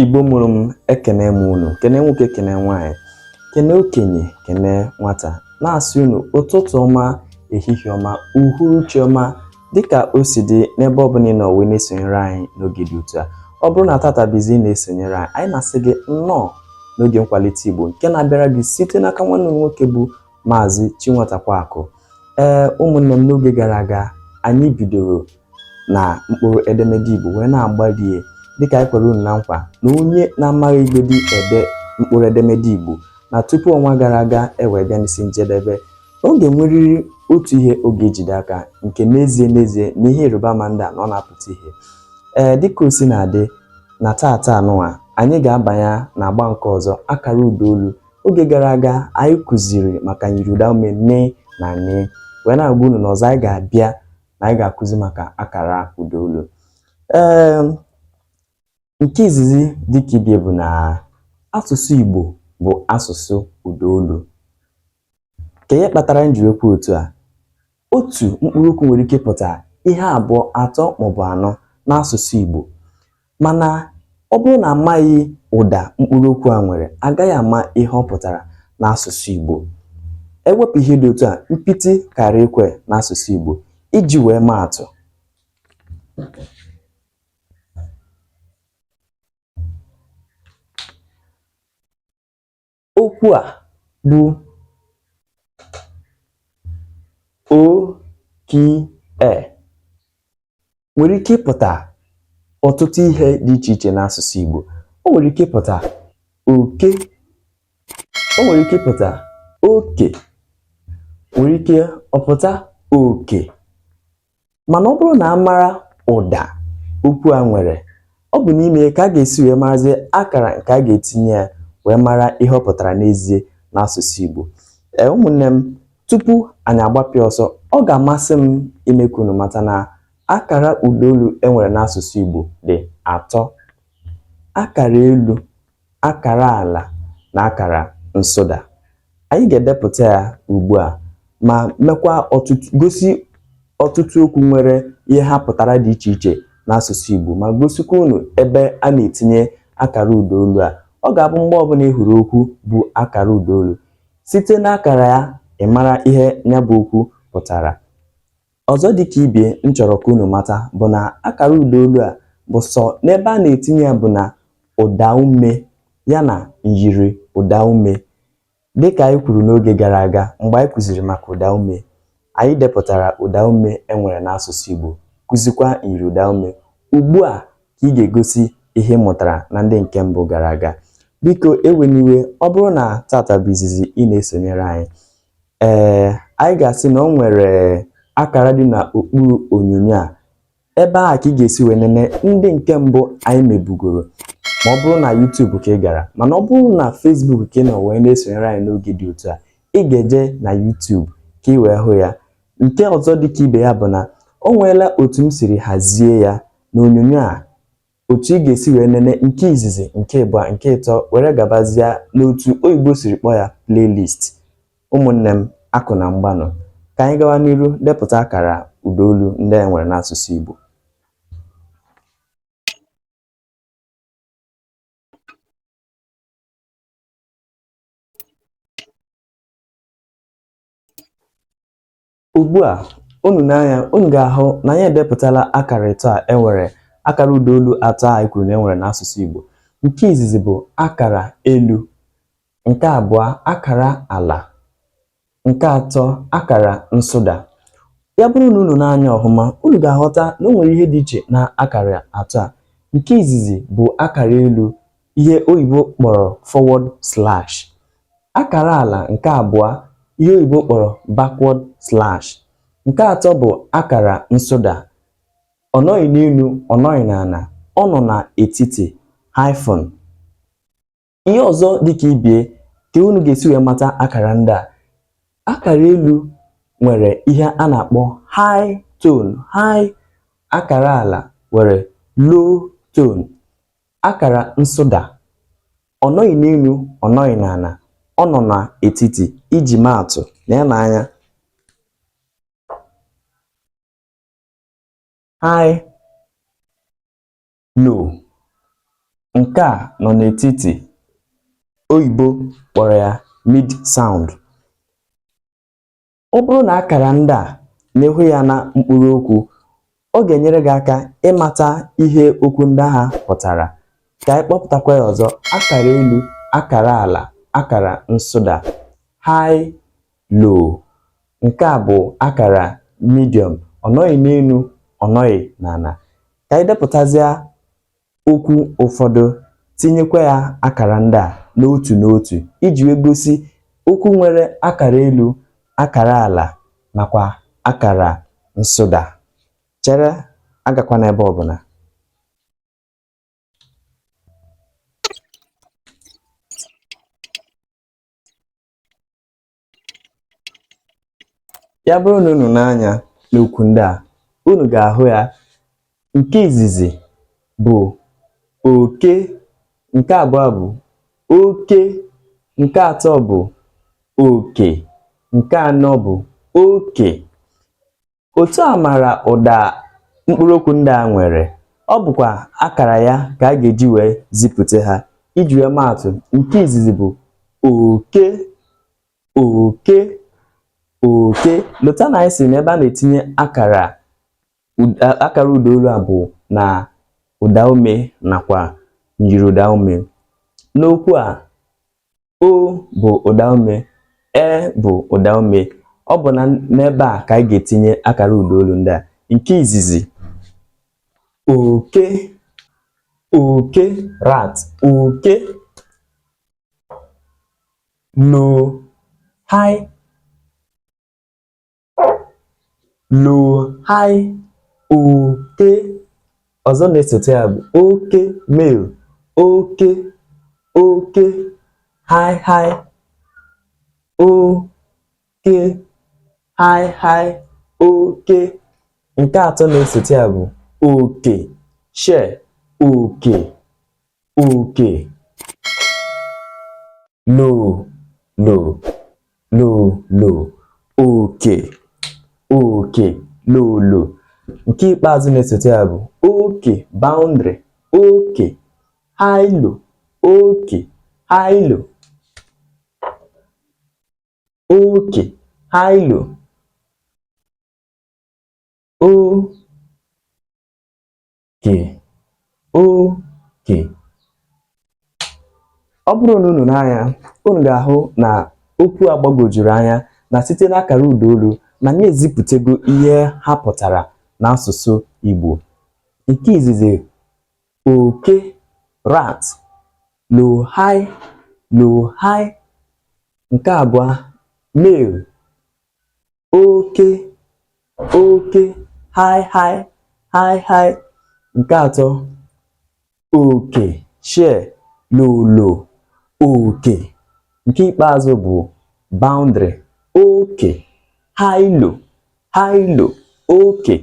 Igbo mụrụ m ekene m unu kene nwoke kene nwaanyị kene okenye kene nwata na-asị unu ụtụtụ ọma ehihie ọma uhuruchi ọma dịka o si dị n'ebe ọ bụla ị nọ wee na-esonyere anyị n'oge dị otu a ọ bụrụ na tata bụ izizi ị na-esonyere anyị anyị na-asị gị nnọọ n'oge nkwalite Igbo nke na-abịara gị site n'aka nwanne m nwoke bụ Maazị Chinwatakweakụ ee ụmụnne m n'oge gara aga anyị bidoro na mkpụrụ edemede Igbo wee na-agbalie dịka anyị kwere unu na nkwa na onye na-amaghị igbedi ede mkpụrụ edemede Igbo na tupu ọnwa gara aga ewee bịa n'isi njedebe na ọ ga-enwerịrị otu ihe ọ ga-ejide aka nke n'ezie n'ezie na ihe ịrịba ama ndị a na ọ na-apụta ihe ee dịka o si na-adị na tata anụwa anyị ga-abanye na agba nke ọzọ akara ụda olu oge gara aga anyị kụziri maka myiri ụda ume m na n wee na-agwa unu na ọzọ anyị ga-abịa na anyị ga-akụzi maka akara ụda olu ee nke izizi dịka ibe ya bụ na asụsụ Igbo bụ asụsụ ụda olu kee ihe kpatara m ji wee kwuo otu a otu mkpụrụ okwu nwere ike pụta ihe abụọ atọ maọbụ anọ n'asụsụ Igbo Mana ọ bụrụ na a maghị ụda mkpụrụokwu a nwere, a gaghị ama ihe ọ pụtara n'asụsụ Igbo. E wepụ ihe dị otu a, mpiti kara ekwe n'asụsụ Igbo. Iji wee maa atụ, okwu a bụ oke nwere ike ịpụta ọtụtụ ihe dị iche iche n'asụsụ Igbo o nwere ike ịpụta oke o nwere ike ịpụta oke nwere ike ọ pụta oke mana ọ bụrụ na a mara ụda okwu a nwere ọ bụ n'ime ya ka a ga-esi wee marazie akara nke a ga-etinye ya wee mara ihe ọ pụtara n'ezie n'asụsụ Igbo ee ụmụnne m tupu anyị agbapịa ọsọ ọ ga-amasị m ime ka unu mata na akara ụdaolu e nwere n'asụsụ Igbo dị atọ akara elu akara ala na akara nsụda. Anyị ga-edepụta ya ugbu a ma mekwa ọtụtụ gosi ọtụtụ okwu nwere ihe ha pụtara dị iche iche n'asụsụ Igbo ma gosikwa unu ebe a na-etinye akara ụdaolu a. Ọ ga-abụ mgbe ọbụla ị hụrụ okwu bụ akara ụdaolu, site n'akara ya ị mara ihe ya bụ okwu pụtara. Ọzọ dị ka ibie m chọrọ ka unu mata bụ na akara ụdaolu a bụ sọ n'ebe a na-etinye ya bụ na ụdaume ya na myiri ụdaume. Dị ka anyị kwuru n'oge gara aga mgbe anyị kuziri maka ụdaume, anyị depụtara ụdaume e nwere n'asụsụ Igbo, kuzikwa myiri ụdaume. Ugbu a ka ị ga-egosi ihe ị mụtara na ndị nke mbụ gara aga. Biko ewena iwe, ọ bụrụ na tata bụ izizi ị na-esonyere anyị, Ee, anyị ga-asị na o nwere akara dị n'okpuru onyonyo a ebe ahụ ka ị ga-esi wee nene ndị nke mbụ anyị mebugoro ma ọ bụrụ na YouTube ka ị gara mana ọ bụrụ na Facebook ka ị nọ wee na-esonyere anyị n'oge dị otu a ị ga-eje na YouTube ka ị wee hụ ya nke ọzọ dị ka ibe ya bụ na o nweela otu m siri hazie ya n'onyonyo a otu ị ga-esi wee nene nke izizi nke ịbụa nke ịtọ were gabazia n'otu oyibo siri kpọọ ya playlist ụmụnne m akụ na mgbanụ ka anyị gawa n'iru depụta akara ụdaolu ndị e nwere n'asụsụ Igbo Ugbu a, unu nee anya, unu ga-ahụ na anyị edepụtala akara ịtọ a e nwere akara ụdaolu atọ a anyị kwuru na e nwere n'asụsụ Igbo. Nke izizi bụ akara elu, nke abụọ akara ala, nke atọ akara nsụda. Ya bụrụ na unu nee anya ọhụma, unu ga-aghọta na o nwere ihe dị iche na akara atọ a. Nke izizi bụ akara elu, ihe oyibo kpọrọ forward slash akara ala nke abụọ ihe oyibo kpọrọ backward slash nke atọ bụ akara nsụda ọ nọghị n'elu ọ nọghị n'ala ọ nọ n'etiti hyphen ihe ọzọ dịka ibie ka unu ga-esi wee mata akara ndị a akara elu nwere ihe a na-akpọ high tone high akara ala nwere low tone Akara nsụda ọ nọghị n'elu ọ nọghị n'ala ọ nọ n'etiti iji maa atụ lee m anya high low nke a nọ n'etiti oyibo kpọrọ ya mid sound Ọ bụrụ na akara ndị a na ị hụ ya na mkpụrụ okwu, ọ ga-enyere gị aka ịmata ihe okwu ndị ahụ pụtara. Ka anyị kpọpụtakwa ya ọzọ, akara elu, akara ala, akara nsụda, high, low. Nke a bụ akara medium, ọ nọghị n'elu, ọ nọghị n'ala. Ka anyị depụtazịa okwu ụfọdụ tinyekwa ya akara ndị a n'otu n'otu iji wee gosi okwu nwere akara elu akara ala nakwa akara nsụda chere agakwana ebe ọbụla ya bụrụ na unu nee anya n'okwu ndị a unu ga-ahụ ya nke izizi bụ oke nke abụọ bụ oke nke atọ bụ oke nke anọ bụ oke Otu a mara ụda mkpụrụ okwu ndị a nwere, ọ bụkwa akara ya ka a ga-eji wee zipụta ha. Iji wee maa atụ, nke izizi bụ oke, oke, oke. Lota na anyị sị na ebe a na-etinye akara akara ụda olu a bụ na ụda ume nakwa myiri ụda ume. N'okwu a, o bụ ụdaume e bụ ụdaume ọ bụ na n'ebe a ka anyị ga-etinye akara ụda olu ndị a nke izizi oke oke rat oke low high lo hai oke ọzọ na-esote ya bụ oke male oke oke hai hai oke hai hai oke nke atọ na-esote ya bụ oke share oke uke lo lo lo lo uke uke lo lo nke ikpeazụ na-esote ya bụ oke boundary oke hailo oke hailo oke hailo o ke oke ọ bụrụ na unu nee anya unu ga-ahụ na okwu a gbagwojuru anya na site n'akara ụda olu na anyị ezipụtago ihe ha pụtara n'asụsụ Igbo nke izizi oke rat low high low high nke abụọ male oke oke high high high high nke atọ oke share low low oke nke ikpeazụ bụ boundary oke high low high low oke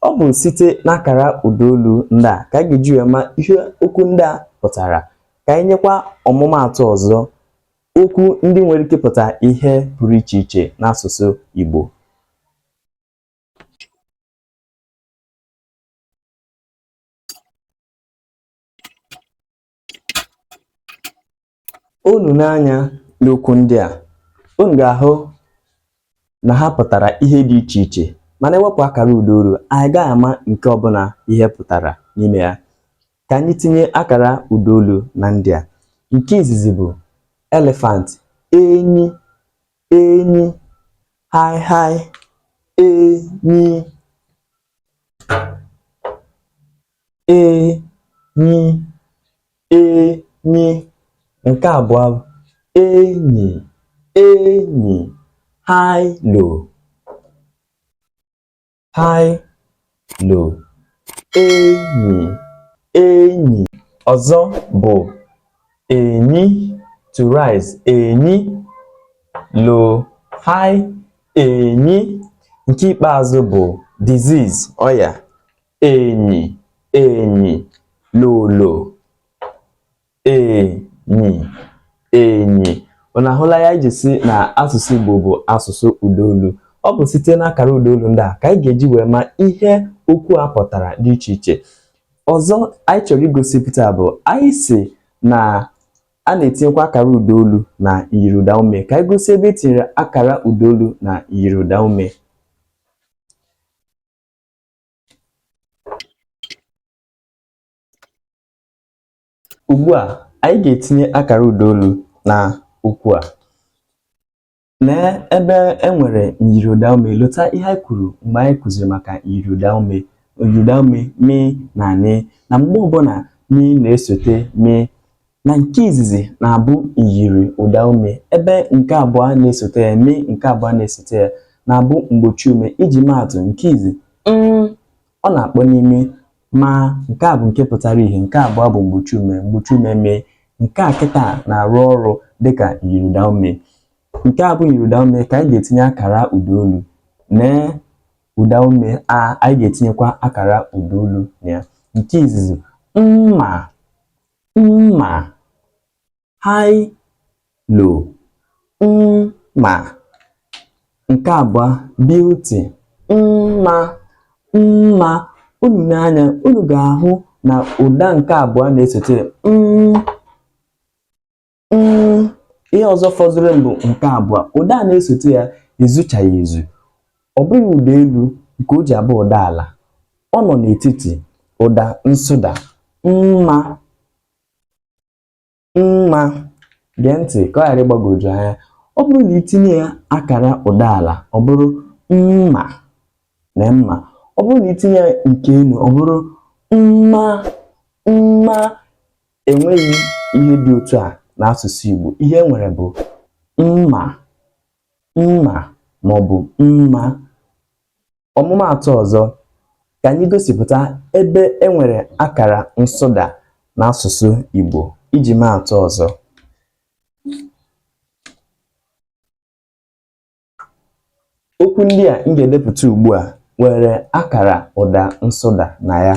ọ bụ site n'akara ụdaolu ndị a ka anyị ga-eji wee ma ihe okwu ndị a pụtara ka anyị nyekwa ọmụmaatụ ọzọ Okwu ndị nwere ike ịpụta ihe pụrụ iche iche n'asụsụ Igbo. Unu nee anya n'okwu ndị a, unu ga-ahụ na ha pụtara ihe dị iche iche mana e wepụ akara ụdaolu anyị gaghị ama nke ọbụla ihe pụtara n'ime ya. Ka anyị tinye akara ụdaolu na ndị a. Nke izizi bụ elephant, enyi, enyi, high high, enyi, enyi, enyi. Nke abụọ enyi, enyi, high low. hi lo enyi enyi ọzọ bụ enyi to rise enyi lo hi enyi nke ikpeazụ bụ disease ọya enyi enyi lolo enyi enyi unu ahụla ihe anyị ji sị na asụsụ Igbo bụ asụsụ ụdaolu ọ bụ site n'akara ụdaolu ndị a ka anyị ga-eji wee ma ihe okwu a pụtara dị iche iche ọzọ anyị chọrọ igosipụta bụ anyị sị na a na-etinyekwa akara ụdaolu na myiriụdaume ka anyị gosi ebe e tinyere akara ụdaolu na myiriụdaume Ugbu a, anyị ga-etinye akara ụdaolu na okwu a. Lee ebe e nwere myiriụdaume. Lota ihe anyị kwuru mgbe anyị kụziri maka myiriụdaume. Myiriụdaume mị na nị na mgbe ọbụla mị na-esote mị na nke izizi na-abụ myiriụdaume ebe nke abụọ na-esote ya mị nke abụọ na-esote ya na-abụ mgbochiume iji maatụ nke izi m ọ na-akpọ n'ime ma nke a bụ nke pụtara ihe nke abụọ bụ mgbochiume mgbochiume mị nke a kịta na-arụ ọrụ dịka myiriụdaume nke a bụ myiriụdaume ka anyị ga-etinye akara ụdaolu nee ụdaume a anyị ga-etinyekwa akara ụdaolu na ya nke izizi mma mma high low mma nke abụọ beauty mma mma unu nee anya unu ga-ahụ na ụda nke abụọ na-esote ya ihe ọzọ fọdụrụ mbụ nke abụọ ụda a na-esote ya ezuchaghị ezu ọ bụghị ụda elu nke o ji abụ ụda ala ọ nọ n'etiti ụda nsụda mma mma gee ntị ka ọ ghara ịgbagwoju anya ọ bụrụ na i tinye ya akara ụda ala ọ bụrụ mma na mma ọ bụrụ na i tinye ya nke elu ọ bụrụ mma mma e nweghị ihe dị otu a n'asụsụ Igbo ihe e nwere bụ mma mma maọbụ mma Ọmụmaatụ ọzọ, ka anyị gosipụta ebe e nwere akara nsụda n'asụsụ Igbo iji maa atụ ọzọ. Okwu ndị a m ga-edepụta ugbu a nwere akara ụda nsụda na ya.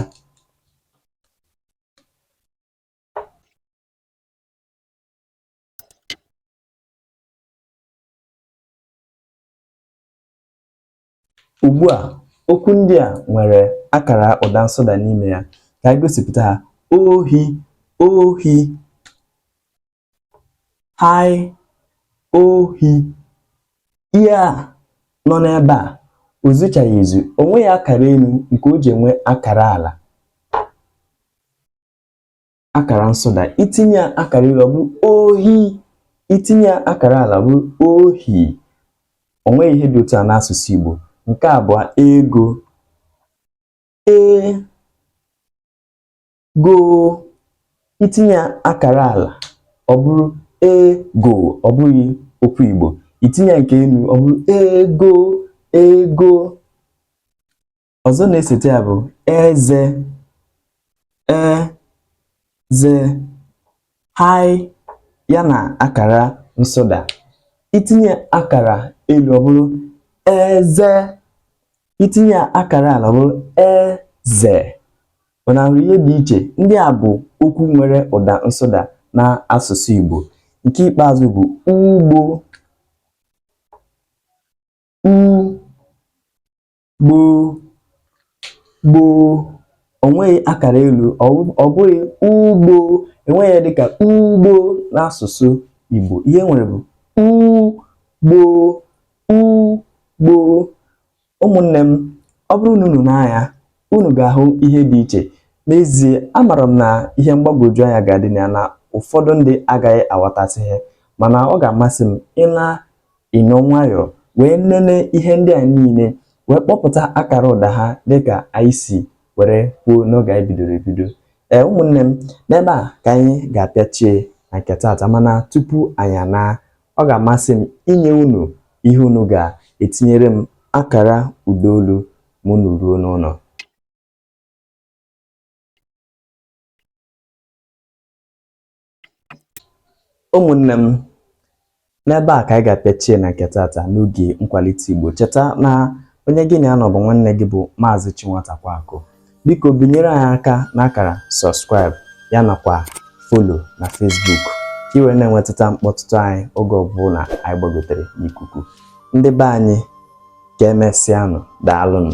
Ugbu a, okwu ndị a nwere akara ụda nsụda n'ime ya. Ka anyị gosipụta ha. Ohi, ohi. Hai, ohi. Ihe a nọ n'ebe a, o zuchaghị ezu. O nweghị akara elu nke o ji enwe akara ala. akara nsụda i tinye akara elu ọ bụrụ ohi i tinye akara ala ọ bụrụ ohi o nweghị ihe dị otu a n'asụsụ Igbo nke abụọ ego ego i tinye akara ala ọ bụrụ ego ọ bụghị okwu Igbo i tinye nke elu ọ bụrụ ego ego ọzọ na-esote ya bụ eze eze hai ya na akara nsụda i tinye akara elu ọ bụrụ eze i tinye akara ala ọ bụrụ eze unu ahụrụ ihe dị iche ndị a bụ okwu nwere ụda nsụda na asụsụ Igbo nke ikpeazụ bụ ugbo gboo gboo o nweghị akara elu ọ bụghị ugbo e nweghị ya dịka ugbo n'asụsụ Igbo ihe e nwere bụ ugbo ugbo ụmụnne m ọ bụrụ na unu nee anya unu ga-ahụ ihe dị iche n'ezie amara m na ihe mgbagwoju anya ga-adị na ya na ụfọdụ ndị agaghị aghọtasị ihe mana ọ ga-amasị m ịla ịnọ nwayọọ wee nene ihe ndị a niile wee kpọpụta akara ụda ha dịka anyị si were kwuo n'oge anyị bidoro ebido ee ụmụnne m n'ebe a ka anyị ga-apịachie na nke taata mana tupu anyị anaa ọ ga-amasị m inye unu ihe unu ga-etinyere m akara ụda olu ma unu ruo n'ụlọ ụmụnne m n'ebe a ka anyị ga-apịachie na nke taata n'oge nkwalite Igbo cheta na onye gị na ya nọ bụ nwanne gị bụ Maazị Chinwatakweaku biko binyere anyị aka n'akara subscribe ya nakwa follow na Facebook ka i were na-enwetụta mkpọtụtụ anyị oge ọbụla anyị gbagotere n'ikuku ndị be anyị ka emesịanụ daalụnụ